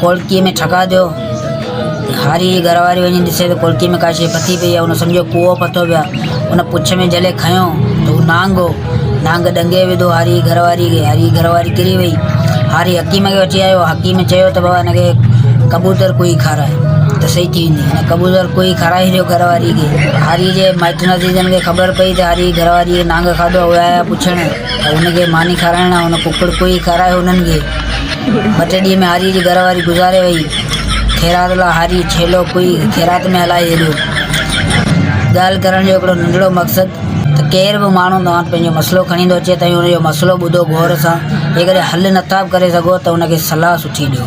کولڪيء ۾ ٺڪاء ڏيو. هاريء جي گهر واري وڃي ڏسي ته کولڪيء ۾ ڪا شيء پٿي پئي آهي. هن سمجهيو ڪوئو پٿو پيو آهي. هن پڇ ۾ جهلي کنيو ته هو نانگ هو. نانگ ڏنگي وڌو هاريء جي گهر واريء کي. هاريء جي گهر واري ڪري ويئي. هاري حڪيم کي وٺي آيو. حڪيم چيو ته بابا هن کي ڪبوتر ڪوئي کاراء ته سهي ٿي ويندي. هن ڪبوتر ڪوئي کارائي ڇڏيو گهر واريء کي. هاريء جي مائٽن عزيزن کي خبر پئي ته هاريء جي گهر واريء کي نانگ کاڌو آهي. اهي آيا پڇڻ ته هن کي ماني کارائڻ لاء. هن ڪڪڙ ڪوئي کارايو هنن کي. مٽڙيء ۾ هاريء جي گهر واري گذاري ويئي. خيرات لاء هاريء ڇيلو ڪوئي خيرات ۾ هلائي ڇڏيو. ڳالهه ڪرڻ جو هڪڙو ننڍڙو مقصد ته ڪير به ماڻهو توهان وٽ پنهنجو مسئلو کڻي ايندو اچي توهين ان جو مسئلو ٻڌو غور سان، جيڪڏهن حل نٿا به ڪري سگهو ته ان کي صلاح سٺي ڏيو.